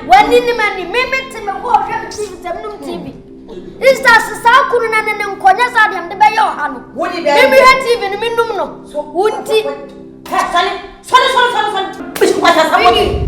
W'ani ne m'ani, me me te me hɔ ɔhwɛ me TV sɛ menom TV. Easter se saa kunu na ne ne nkɔnyɛ saa deɛ mede bɛyɛ ɔha no. Me me hwɛ TV no menom no. Wo nti. Sɔre sɔre sɔre sɔre sɔre. Bishop Kwasa Samuel.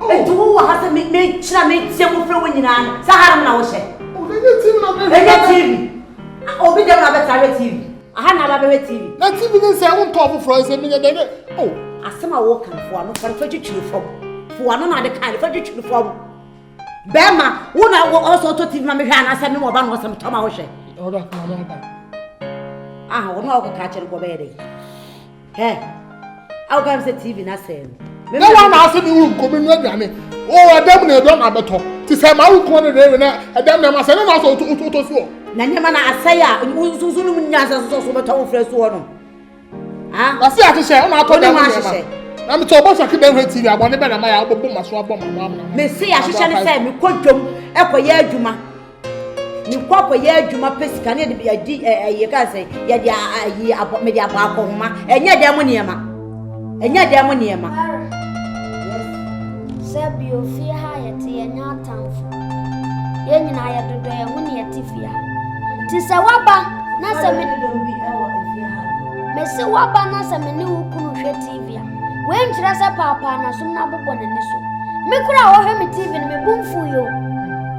Oh. Enti wo wɔ ha sɛ me me kyerɛ me tie mu frɛ wo nyinaa no. Sɛ hanom na wo hyɛ. Oh, na nye TV na bɛ. Enye TV. Ah, obi dɛm na bɛ tra hwɛ TV. Aha na ba bɛ hwɛ TV. Na TV ne nsɛ wo ntɔ foforɔ nsɛ me nyɛ dɛ oh. Asɛm a wo kan fo ano fa fa twitwiri fam. Fo ano na ade kan fa twitwiri fam. Bɛma wo na wo ɔsɔ ɔtɔ TV ma me hwɛ anasɛ me mo ba na ɔsɛm tɔ ma wo hwɛ. Ɔda kuma na ɔda. Ah, ɔno a ɔkɔ ka kyerɛ nkɔ bɛyɛ dɛ. Hɛ, awo ka mi sɛ TV na sɛɛ no. Na wɔn na ase ne wo nkomi no aduane. O ɛdɛm na ɛdɔm abɛtɔ. Te sɛ ma wo nkomi no deɛ na ɛdɛm na ɛma sɛ ne na sɛ ɔtɔ so. Na nneɛma na asɛe a nsusu no mu nyansa so sɛ ɔbɛtɔ wo frɛ so hɔ no. Wase ahyehyɛ ɔna atɔ dɛm nneɛma. Na metɔ ɔbɔ saki dɛm hwɛ TV abɔ ne bɛ na ma yɛ abɔ bɔ ma so abɔ ma mo amena. Mese ahyehyɛ ne sɛ mekɔ dwom ɛkɔyɛ adwuma. mekɔ akɔyɛ adwuma pɛ sika ne yɛde adi ɛyɛ kan sɛ yɛde ayi abɔ mede abɔ akɔhoma ɛnyɛ dɛn mo nneɛma ɛnyɛ dɛn mo nneɛma. sɛ bio fie ha yɛte yɛnyɛ atamfo yɛn nyinaa yɛdodɔ yɛn ho ne yɛte fie ha nti sɛ woaba na sɛ me mese woaba na sɛ me ne wo kunu hwɛ tv a woankyerɛ sɛ paapaa nasom no abobɔ n'ani so me kora a wɔhwɛ me tv no mebu mfo yɛ o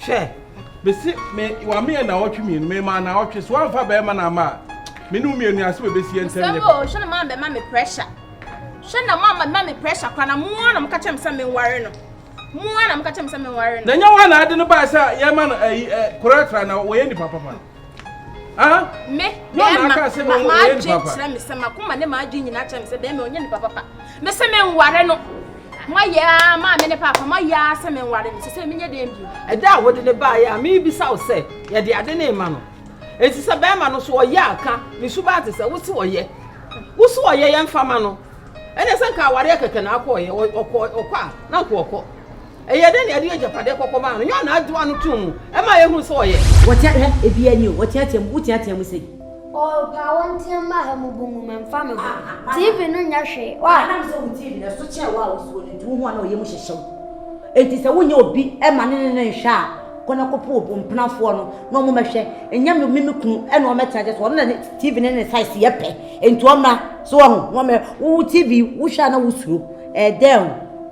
Hwɛ, mese me, wameyɛ naawɔtwe mmienu, memaa naawɔtwe, so wamfa bɛrima na ama a, me ne wo mmienu ase bɛbɛsi yɛn ntam nyɛ papa. Hwɛ na maa bɛma me pressure. Hwɛ na maa bɛma me pressure kora na moa na moka kyerɛ me sɛ menware no. Moa na moka kyerɛ me sɛ menware no. Na nyɛ wo a na ade no baa sɛ yɛma no ayi, eh, koraa tra na wɔyɛ nipa papa. Ah, me bɛrima ma adwene kyerɛ me sɛ makoma ne m'adwene nyinaa kyerɛ me sɛ bɛrima ɔnyɛ nipa papa me sɛ menware no moayɛ a maa me ne paapa moayɛ a sɛ menware no sɛ sɛ menyɛ dɛn bio ɛda a wode ne baeɛ a mebisa wo sɛ yɛde ade ne ma no ɛnti sɛ bɛrima no so ɔyɛ aka ne suba te sɛ wo se ɔyɛ wo so ɔyɛ yɛmfa ma no ɛne sɛ nka awareɛ kɛkɛ na akɔɔyɛ ɔkɔ a na nka ɔkɔ Ɛyɛ dɛn na yɛde agyapadeɛ kɔkɔ maa no? Nyɛ ɔna agye w'ano tom mu ma yɛhunu sɛ ɔyɛ. Wɔtea, hwɛ, ebiaa ni o, wɔteatea mu, woteatea mu sei. Oh, paa wonteam mma ha mu bu mu, memfa me ho. TV no nyɛ hwee, why? Anam sɛ wo TV no, ɛso kyɛn wo a wote soɔ no nti, wohu a na ɔyam hyehye wo. Enti sɛ wonyɛ obi ma ne ne no nhwɛ a, kɔ na kɔpɛ wo mpenafoɔ no na wɔmmɛhwɛ. Nyɛ me me me kunu na ɔmmɛtena gye so, ɔno na ne TV no ne ne size yɛ pɛ, enti ɔmmra. So woahu? Na wɔmmɛ, wo TV wohwɛ a na wosuro, ɛyɛ dɛn o?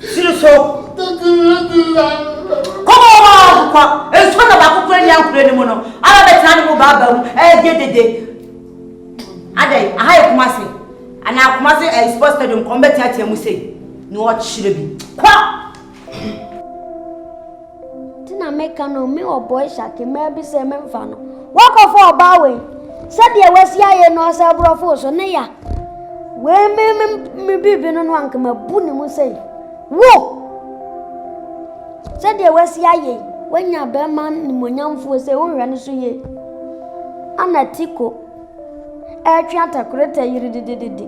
Siri so. Kɔbɔ ɔbɔ a ɔkokɔ. Nsuo na baako kura ni ankura ni mu no. Ara bɛtena ne mu baaba mu. Ɛgye dede. Adɛn, aha yɛ kuma se. Ana kuma se ɛyɛ sports stadium kɔn bɛteatea mu sei. Na ɔkyerɛ bi. Kɔ! nti na meka no me wɔ bɔe hyake mmaa bi sɛ memfa no wakɔfa ɔbaa wei sɛdeɛ wasi ayɛ no ɔsɛ aborɔfo so ne ya wei me me me biribi no no anka mabu ne mu sɛ wo sɛdeɛ wasi ayɛ wanya bɛrima nimonyamfoɔ sɛ wohwɛ no so yie ana tiko ɛretwe atakorɛta yi dedededede.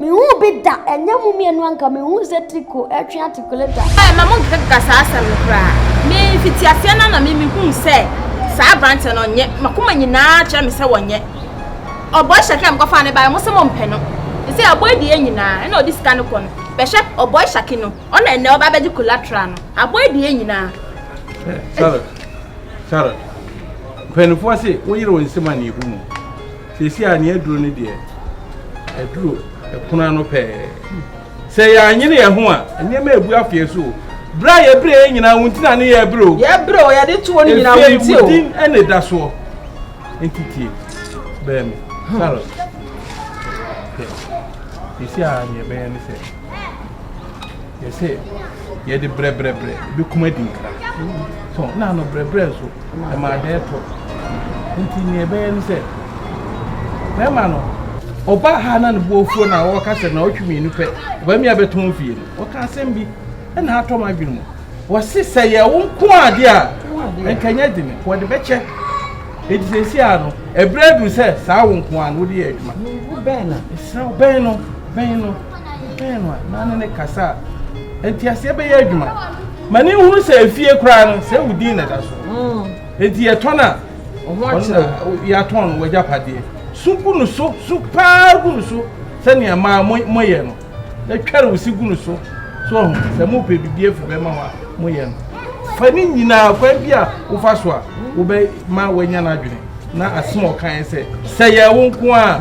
Mehu bi da, ɛnyɛ mo mmienu anka mehu sɛ tiko ɛretwe atakorɛta. Ɛɛ ma mo nkekeka saa asɛm no koraa. Me fiti aseɛ no na me mehu sɛ saa aberanteɛ no ɔnyɛ. Makoma nyinaa kyerɛ me sɛ wɔnyɛ. Ɔbɔ hyɛ kɛ mkɔfa ne baeɛ mo sɛ mo mpɛ no. Ɛsɛ ɔbɔ adie nyinaa ɛna ɔde sika no kɔ no. Bɛhwɛ ɔbɔ hyɛ no ɔna ɛnɛ ɔba bɛgye collateral no. Abɔ adie nyinaa. Charlotte, Charlotte. Mpanimfoɔ se woyere wo nsam aneehu mu. Seesei a nea aduru no deɛ, aduru pono ano pɛɛ. Sɛ yɛanyere yɛn ho a, nneɛma rebu afa yɛn so o. Bere a yɛbrɛ yɛn nyinaa wo nti na ne yɛbrɛ o. Yɛbrɛ o, yɛde to hɔ no nyinaa wo nti o. Efie wo din na ɛda soɔ. Nti tie, bɛn me, Charlotte. Hwɛ, seesei a nea ɛbɛyɛ ne sɛ. Yɛ sɛ yɛ de brɛbrɛbrɛ bɛ kum adi nkra. So na ano brɛbrɛ nso ɛma ada ɛtɔ. Nti nea ɛbɛyɛ ne sɛ bɛrima no ɔbaa ha na ne bo afuo na ɔka sɛ na ɔtwe mmienu pɛ ɔbaa mi abɛtɔn fie no ɔka asɛm bi ɛna atɔ m adwene mu wɔse sɛ yɛ wo nko ade a nkanyɛ dene wɔde bɛkyɛ ɛti sɛsi a no ɛberɛ aduru sɛ saa wo nko a no wode yɛ adwuma bɛn no bɛn no Mehwɛɛ no a, na ne ne kasa a nteaseɛ bɛyɛ adwuma. Ma ne nhunu sɛ efie koraa no, sɛ ewu din na ɛda so. Mm. Eti yɛtɔn a, yɛatɔn no wɔagya padeɛ. So gu no so, so paa gu no so sɛnea maa moyɛ no. Na twɛre wo si gu no so. So ɔho sɛ mopɛ biribi afiri bɛma hɔ a moyɛ no. Fa ne nyinaa kwan bi a wofa so a wobɛma wanya no adwene na asɛm a ɔkaeɛ sɛ sɛ yɛ wo nko a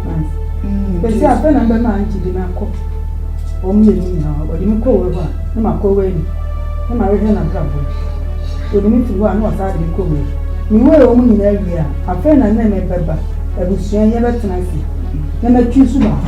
Bɛsi afei na mbɛma angye di na kɔ wɔn mmienu nyinaa wɔde me kɔ wei hɔ a na ma kɔ wei na ma wehwɛ na bra bɔ wɔde me firi hɔ a na wɔsaa de me kɔ wei me wei wɔn nyinaa wie a afei na nne me bɛba abusua yɛbɛtena ase na matwi su baako.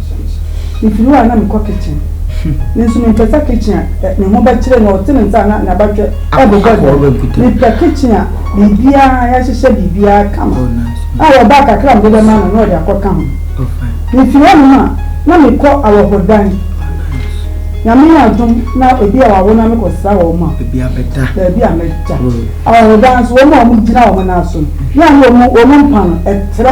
Mefiri hɔ a na mekɔ kitchen. Nanso menkasa kitchen a ne ho bɛkyere na ɔte ne nsa a na n'abatwɛ rebobɔ da. Mepɛ kitchen a biribiara, yɛahyehyɛ biribiara kama a wɔbaa kakra a mede bɛma no na ɔde akɔka ho. Mefiri hɔnom a na mekɔ awɔhodan. Nyame yɛ adom na ebi a wɔawo no a mekɔsra wɔn a baabi a mɛda. Awɔhodan nso wɔn a wɔgyina wɔn nan so no, yɛ a na wɔn mpa no, ɛtrɛ.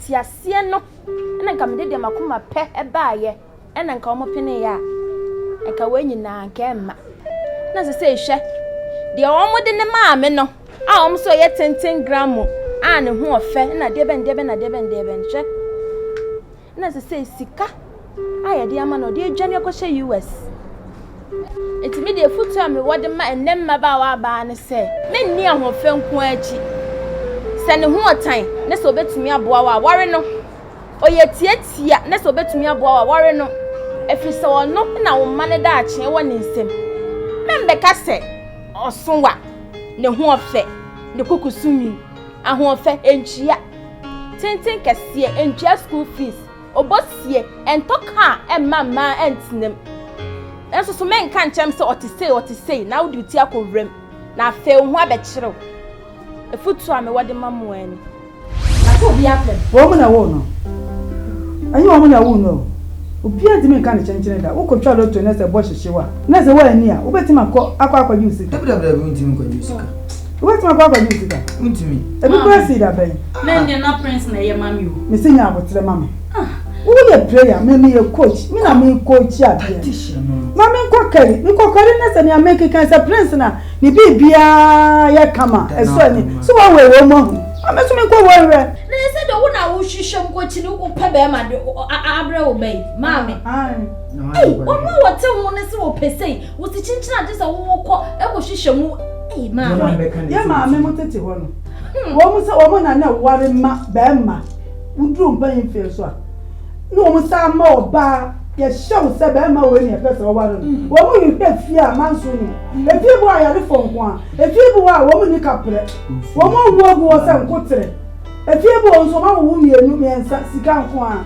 Te aseɛ no na nka mede deɛ makoma pɛ baeɛ na nka wɔn peneeɛ a, nka wei nyinaa nka ɛmma. Na sesei hwɛ, deɛ wɔn de ne maa me no a wɔn nso ɛyɛ tenten gramo a ne ho ɔfɛ na deɛ bɛn deɛ bɛn na deɛ bɛn deɛ bɛn hwɛ. Na sesei sika. a yɛde ama no, ɔde adwane akɔhyɛ US. Enti me deɛ afotuo a mewɔ de ma ɛnnɛ mmabaawa abaa ne sɛ, menni ahoɔfɛ nko ara akyi. Sɛ ne ho ɔtan na sɛ ɔbɛtumi aboa wo a, ware no. Ɔyɛ tiatia na sɛ ɔbɛtumi aboa wo a, ware no. Ɛfiri sɛ ɔno na wo mma no daakye wɔ ne nsam. Mɛmmɛka sɛ ɔso wa, ne ho ɔfɛ, ne kukusu nwi. Ahoɔfɛ, ɛntua tenten kɛseɛ, ɛntua school fees. Obosie, ɛntɔ ka a ɛmma mmaa ɛntena mu. Nanso so menka nkyerɛ me sɛ ɔte sei, ɔte sei, na wode wo ti akɔ wura mu, na afei wo ho abɛkyere wo? Afotuo a mewɔ de ma mo ara ni. Na sɛ obi apɛ me. Wɔn na woo no. Ɛnyɛ wɔn na woo no o. Obiara ntumi nka ne kyenkyen da. Wokɔtwa lotto na sɛ bɔ hyehye wo a, na sɛ woanni a, wobɛtumi akɔ akɔ akɔgye wo sika? Dabidabidabi, wontumi nkɔgye wo sika. Wobɛtumi akɔ akɔgye wo sika? Wontumi. Ebi kura sii da bɛn? Na ɛnneɛ na prince na ɛyɛ mami o. Mesi nya abotere ma me. Ah. Woyɛ player, me meyɛ coach, me na me coach adeɛ. Ma me nkɔ kari, me kɔ kari na sɛ nea me keka sɛ prince na ne biribiara yɛ kama, ɛsɔ ani. So wɔn wɔ wɔn mu ahu. Ma me nso me nkɔ wɔn wɛ. Na yɛ sɛ deɛ wo na wohwehwɛ mu kɔ kyini wopɛ bɛrima de abrɛ wo bɛyi, maame. Ei, wɔn a wɔte ho no sɛ wɔpɛ sei, Wo se kyinkyin a gye sɛ wo wo kɔ kɔ hwehwɛ mu ei maa me. Yɛ maame mo tete hɔ no wɔ mo sɛ wɔ mo na na ɛware ma bɛɛma wo duru mpayin mfeɛ nso a na wɔ mo saa ma ɔbaa yɛ hyɛ wo sɛ bɛɛma wei na yɛ pɛ sɛ ɔware no wɔ mo hwehwɛ efie a manso nim efie bi wɔ ayare fɔ nko a efie bi wɔ a wɔ mo ni kaprɛ wɔ mo awu agu hɔ sɛ nkoterɛ efie bi wɔ nso wɔ ma wo wo mienu miɛnsa sika nko a.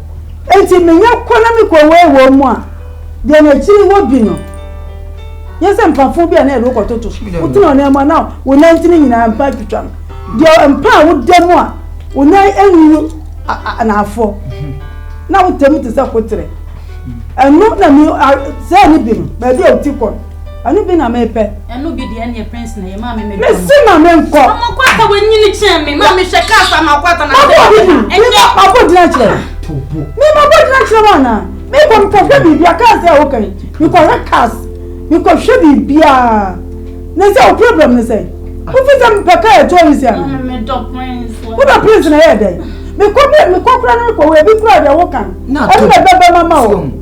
Enti menya kɔ na mekɔwee wɔn mu a, deɛ n'akyiri hɔ bi no yɛ sɛ mpafoɔ bi a na yɛde wo kɔtoto. Wotena wo nan mu a na wo nan ntini nyinaa mpa twitwa no. Deɛ mpa a woda mu a wo nan anwunu anaafoɔ na wotɛ mu te sɛ koterɛ. Ɛno na me sɛɛ ne bi no baabi a woti kɔ no. Ɛno bi na mepɛ. Ɛno bi deɛ ɛneɛ prince na yɛ maa me mɛdwa mo. Mesi ma me nkɔ. Mama kwata wɔ nyini kyɛn me maa me hwɛ kaa sa ma kwata na sɛ ɛbɛ na ɛnyɛ. Ma bɔ gyina kyerɛ. Mi ma bɔ gyina kyerɛ wa na. Mi kɔ mi kɔ hwɛ biribi a kaa sɛ ɛwɔ kan mi kɔ hwɛ kaas mi kɔ hwɛ biribi a na sɛ o problem ne sɛ o fi sɛ mi pɛ kaa ɛtɔ yi sɛ ɛna. Mi dɔ prince. O dɔ prince na yɛ dɛ. Mi kɔ mi kɔ kura ne kɔ wɔ ebi kura deɛ ɛwɔ kan. Ɛna bɛbɛ mama o.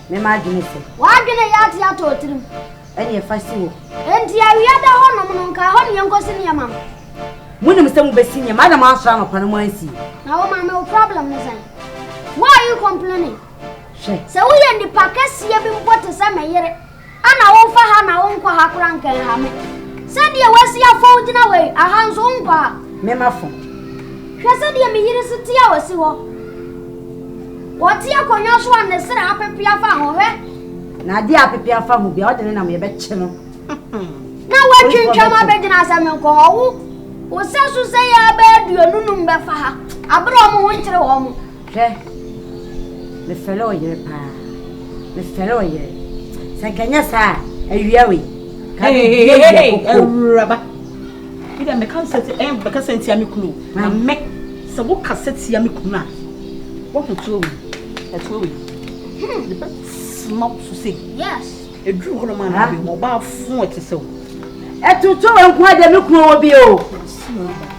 Me m'adwene se. W'adwene yɛ ate atɔ wo tirim. Ɛneɛ fa si hɔ. Enti awia da hɔnom no, nka ɛhɔ ne yɛnkɔsi nneɛma no. Monim sɛ mobɛsi nneɛma na moansɔre anɔpa no moansie. Na wo maame wo problem ne sɛn? Why are you complaining? Hwɛ. Sɛ woyɛ nipa kɛseɛ bi mpo te sɛ me yere. Ana womfa ha na wonkɔ ha koraa nka nha me? Sɛdeɛ woasi afɔw gyina hɔ yi, aha nso wonkɔ ha. Me mafo, hwɛ sɛdeɛ me yere si te a ɔsi hɔ. Ɔte akonnwa so a ne srɛ apepea afa ho, hwɛ. Na adeɛ a apepea afa ho biara, ɔde ne nam yɛbɛkye no. Na woatwintwam abɛgyina sɛ menkɔ hɔ. Wo, wo sɛ so sɛ yɛ abɛɛ aduonu nnum bɛfa ha, bere a wɔn ho nkyere wɔn. Hwɛ, mefɛre ɔyere paa, mefɛre ɔyere. Sɛ nka nyɛ saa a, awia wei. Ka me bie bia koko. Awuraba. Bi da meka sɛ ti ɛn bɛka sɛ ntia me kunu. Na me sɛ wo ka sɛ tia me kunu a. Wo ho tuo wei. Ɛtuo wei. Hmm, ne bɛ sma wo so sɛ. Yes. Eduru hɔ no ma na bi mo ba fo ɛte sɛ wo. Ɛtuo tuo wei nko a deɛ me kunu wɔ bi o.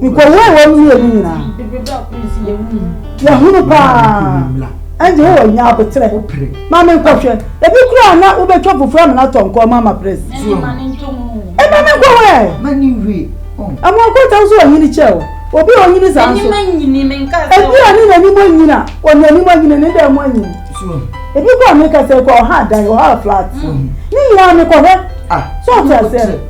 Nkɔhɔ a ɛwɔ mu yie no nyinaa. De bere baako no si yɛn mu. Yɛhunu paa. Ɛnde wo wɔ nya aboterɛ. Ma me nkɔhwɛ. Ebi kura a na wobɛtwa fufuo amena atɔ nkɔɔ ma ama pres. Ɛnde ma ne nto mu. Ɛma me nkɔhɔ ɛ. Ma ne nwie. Ɛmo akɔta nso ɔnyini kyɛ o. Obi a ɔnyini saa nso. N'anim anyini me nka sɛ. Ebi a ne n'anim anyini a ɔne anim anyini ne dɛn mo anyini. Ebi kɔ a meka sɛ kɔ ɔha adan ɔha flat. Ne nyinaa mekɔhwɛ. Sɛ ɔte aseɛ.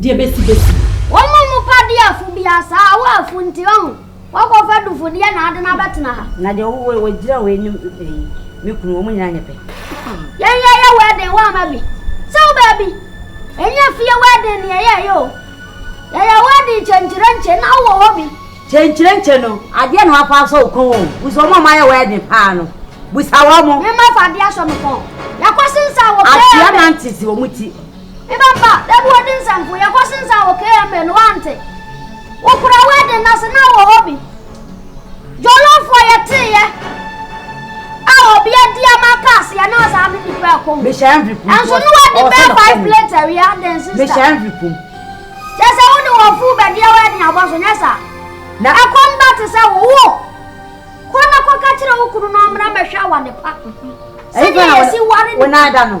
deɛ bɛsi bɛsi. Wɔn a wɔpa di afo biara saa ara, wɔ afo nti ɔn, wɔakɔfa dufodeɛ na ade no abɛtena ha. Na deɛ ɔwɔ wɔ gyina wei ne ɛyi, me kunu, wɔn nyinaa nyɛ pɛ. Yɛn yɛ yɛ wɛɛden wɔ ama bi, sɛ wo baabi, ɛnyɛ fie wɛɛden ne yɛ yɛ yɛ o, yɛ yɛ wɛɛden kyenkyerenkye na wo wɔ hɔ bi. Kyenkyerenkye no, adeɛ na wɔafa asɔ wo kɔn o, busa wɔn a wɔayɛ wɛɛden paa no, busa wɔn. Me mma fa adeɛ asɔ me kɔn, yɛakɔ sensa wɔ prayer bed. Atua nante si wɔn ti. Me ba ba, da bi wɔde nsanku yɛ kɔse nsa wɔ KMA no wante. Wokura wedding no ase na wɔ hɔ bi. Jollofoɔ yɛteeɛ a obi adi ama ka aseɛ na ɔsaa de nipa ɛkɔ mu. Ɛnso ne wɔde bɛɛ five plates awie adɛn sista. Kyɛ sɛ wo de wɔ full bɛdeɛ wedding abɔ so nyɛ saa. Na ɛkɔm ba te sɛ wo wo. Kɔ na kɔka kyerɛ wo kunu na ɔmmra mmɛhwɛ awadepa. Sɛdeɛ yɛsi ware nipa.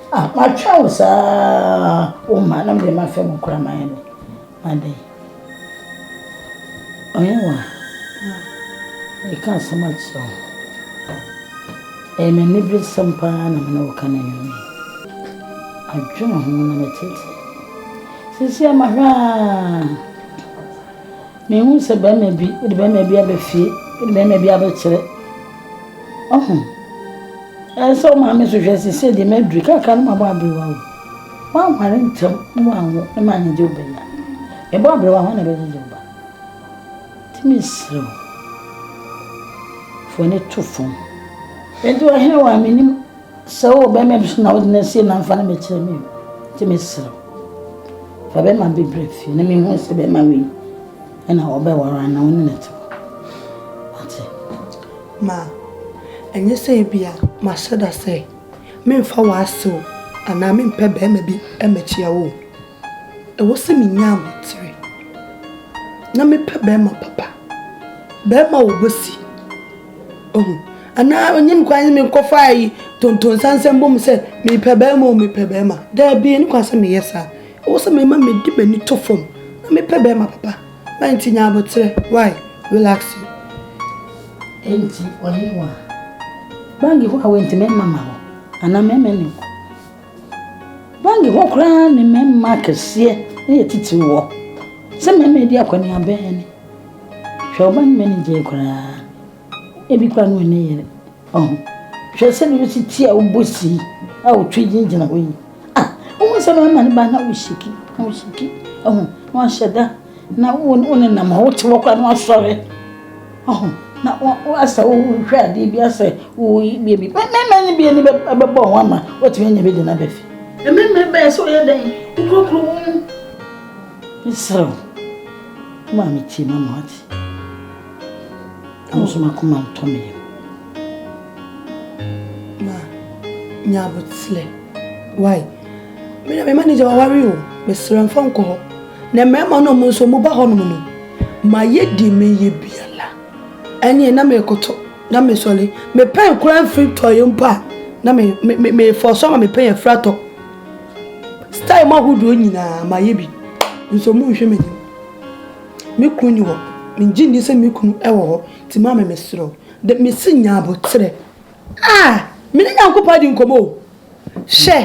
Ah matwɛn wo saa wo ma na mede m'afɛ mu kora ma yɛ no adɛn ɔyɛ wa ɛka asɛm akyerɛ wo ɛyɛ me nne bere sɛm paa na mene wo ka no anwumɛ adwene ho na metete sisi ama hwɛ a Mehu sɛ barima bi, wode barima bi aba fie, wode barima bi abɛkyerɛ. Ɔho. Ɛyɛ sɛ wo maame so hwɛ sisi deɛ maduru kakra no mabɔ aberewa o. Woanware ntɛm ne woanwo ne manyegye wo bɛnya. Mebɔ aberewa hɔ na ɛbɛgyegye wo ba. Nti mesrɛ wo, fa w'ani to fam. Nti ɔhene wa menim. Sɛ wowɔ bɛrima bi so na wode no asie na mfa no mɛkyerɛ me nti mesrɛ fa bɛrima bi brɛ fie na mehu sɛ bɛrima wei ɛna wɔbɛware ana wo ne no te ate ma ɛnyɛ sɛ ebia mahyɛ da sɛ memfa w'asew anaa mempɛ bɛrima bi mɛkyia wo ɛwɔ sɛ menya abotire na mepɛ bɛrima papa bɛrima a wɔbɛsi Ohu. Anaa ɔnyɛ me kwan sɛ menkɔfa ayi tontonsa nsɛmbɔ mu sɛ mepɛ barima o, mepɛ barima. Daabi, ɛnni kwan sɛ meyɛ saa. Ɛwɔ sɛ mema mede m'ani to fam na mepɛ barima papa. Why nti nya aboterɛ? Why? Will ask you. Enti, ɔhenewa, bangi hɔ a wentumi mma ma wo, anaa mɛma no. Bank hɔ koraa ne mmarima akɛseɛ na ɛtitiriw hɔ. Sɛ mmarima redi akɔneaba a ni. Hwɛ wo bank manager yi koraa, ebi koraa na ɔnni yere. Ɔho. Hwɛ sɛdeɛ wosi ti a wobɔ si a wotwe gyinagyina hɔ yi. Ah, wohu sɛ mmarima no ba na wohyiki, na wohyiki. Ɔho, na wɔahyɛ da. na wo wo ne nam hɔ wote hɔ koraa na wasɔre ɔho na woasɛ wohwɛ adeɛ bi asɛ woyi bie bi mɛmɛ ne bie ne bɛbɔ ho ama woatumi anya bi de no aba fi mɛmɛ bɛyɛ sɛ woyɛ dɛn wokurokuro wo mu mesrɛ wo ma a metie ma ma ate ɛho so makoma ntɔ me yam ma nya aboterɛ why Me na me manager waware o, mesrɛ mfa nkɔ hɔ. Na mmarima no ɔmo nso ɔmo ba hɔnom no, mayɛ deɛ mɛyɛ biara. Ɛneɛ na mekoto, na mesɔre. Me pɛn koraa mfiri tɔeɛ mpo a, na me, me, me, me force ama me pɛn afiri atɔ. Style mu ahodoɔ nyinaa mayɛ bi, nso ɔmo nhwɛ m'anim. Me kunu ni hɔ, mengye nni sɛ me kunu ɛwɔ hɔ, nti maame mesrɛ wo, de, mese nya aboterɛ. A, me ne Nyankopɔn adi nkɔmmɔ o. Hwɛ,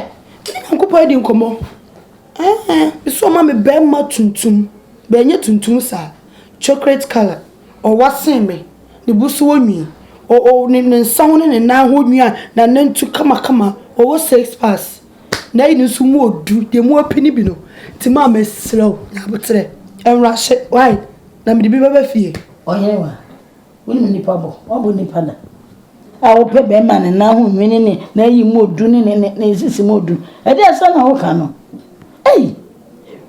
me ne Nyankopɔn adi nkɔmmɔ. Ɛɛ, nso ɔma me barima tuntum, bɛɛ nyɛ tuntum saa, chocolate colour, ɔwa sen me, ne bo so wɔ nwi, ɔ, ɔ, ne, ne nsa ho ne ne nan ho nwi a n'anantu kamakama, ɔwɔ six packs. N'ayi no nso mu ɔdu, deɛ mu ɔpi no bi no. Nti maa mɛsrɛ wo, Nyaboterɛ, nwura hyɛ, wai, na mede bi bɛba fie. Ɔyere wa? Wonim nipa bɔ, wabɔ nipa da. A wopɛ bɛrima ne nan ho nwene ne n'ayi mu odu ne ne ne nsisi mu odu. Ɛde asɛm na woka no. Ei,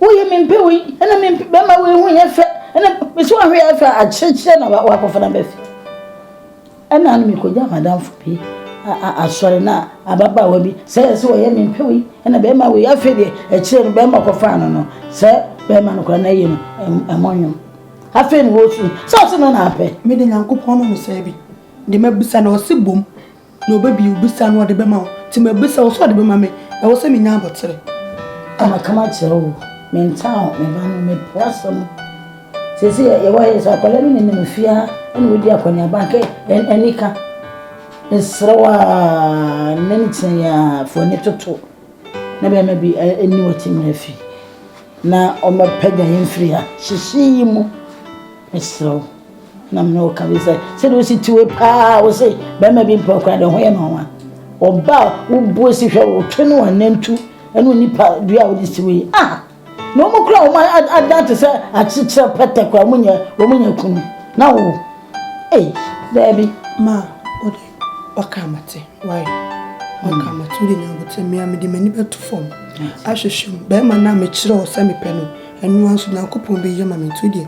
woyɛ mempɛ wei, ɛna mempɛ bɛrima wei ho yɛ fɛ, ɛna mesi wɔn ho yɛ fɛ akyerɛkyerɛ na wakɔfa na bɛfi. Ɛna no mekɔgya madamfo bi asɔre na ababaawa bi sɛ yɛ sɛ wɔyɛ mempɛ wei, ɛna bɛrima wei afei deɛ akyerɛ no bɛrima kɔfaa no no sɛ bɛrima no kora n'ayi no ɛmɔ nwom. Afei na ɔsu sɛ ɔse no na apɛ. Me de Nyankopɔn no mesaa bi, de mabisa na ɔse bom na ɔbɛbie wo bisa no ɔde bɛma wo, nti mabisa wo sɛ ɔde bɛma me, ɛwɔ sɛ menya abotere. A maka makyerɛ wo, mentaa wo, me ba no, mepo w'asɛm no, seesei a yɛwɔ ha yi, sɛ akwadaa no nenam fie ha na ɔdi akɔneaba a, anka anika, mesrɛ wo a, nna no kyina yi a, fa w'ani toto. Na bɛɛma bi ɛni wɔte mu afi na ɔmɛ pɛgya yɛn firi ha hyehye yi mu mesrɛw na mene wo ka bi sɛ sɛ de wosi tiwe paa wo se bɛɛma bi mpɛ ɔkora de ho yɛ no ɔwa ɔba wobuo si hwɛ wo twe no anantu ɛne nipa dua wode siwe ah Na wɔn kura wɔn ad adan te sɛ akyekyerɛ pɛtɛ kura wɔn nyɛ wɔn nyɛ kunu na wo ei daabi. Ma ɔde ɔka amate why ɔka amate ɔde nya abotire mmea mede m'ani bɛto fam ahwehwɛ mu bɛrima no a mekyerɛ wo sɛ mepɛ no ɛnoa nso nyankopɔn bɛyɛ ma me nti wo deɛ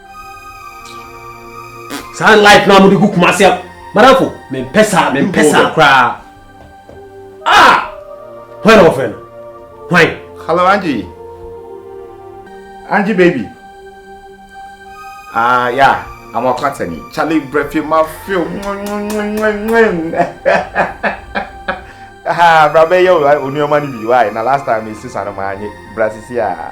saa light na wɔde gu kumase a madamfo mempɛ saa mempɛ saa koraa a ah! hwan na wɔfrɛ no hwan hello angie angie baby ah ya amakwatani chale brɛfi mafeo brabɛyɛ onuɔma no bi why na last time mesisa no maanye brasisi a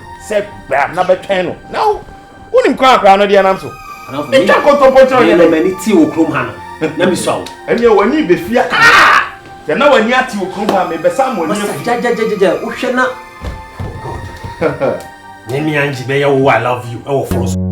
sɛ bɛa na bɛtwɛn no na wo wonim kwan akora no deɛ nam so ɛtwa nkontompo nkyerɛ ɔyɛ dɛ m'ani te wo kurom ha no na mesua wo ɛneɛ w'ani bɛfi aka sɛ na w'ani ate wo kurom ha mebɛsa mo ani afi gyagyagyagyagya wohwɛ na ne mea ngye bɛyɛ wo i love you ɛwɔ foro so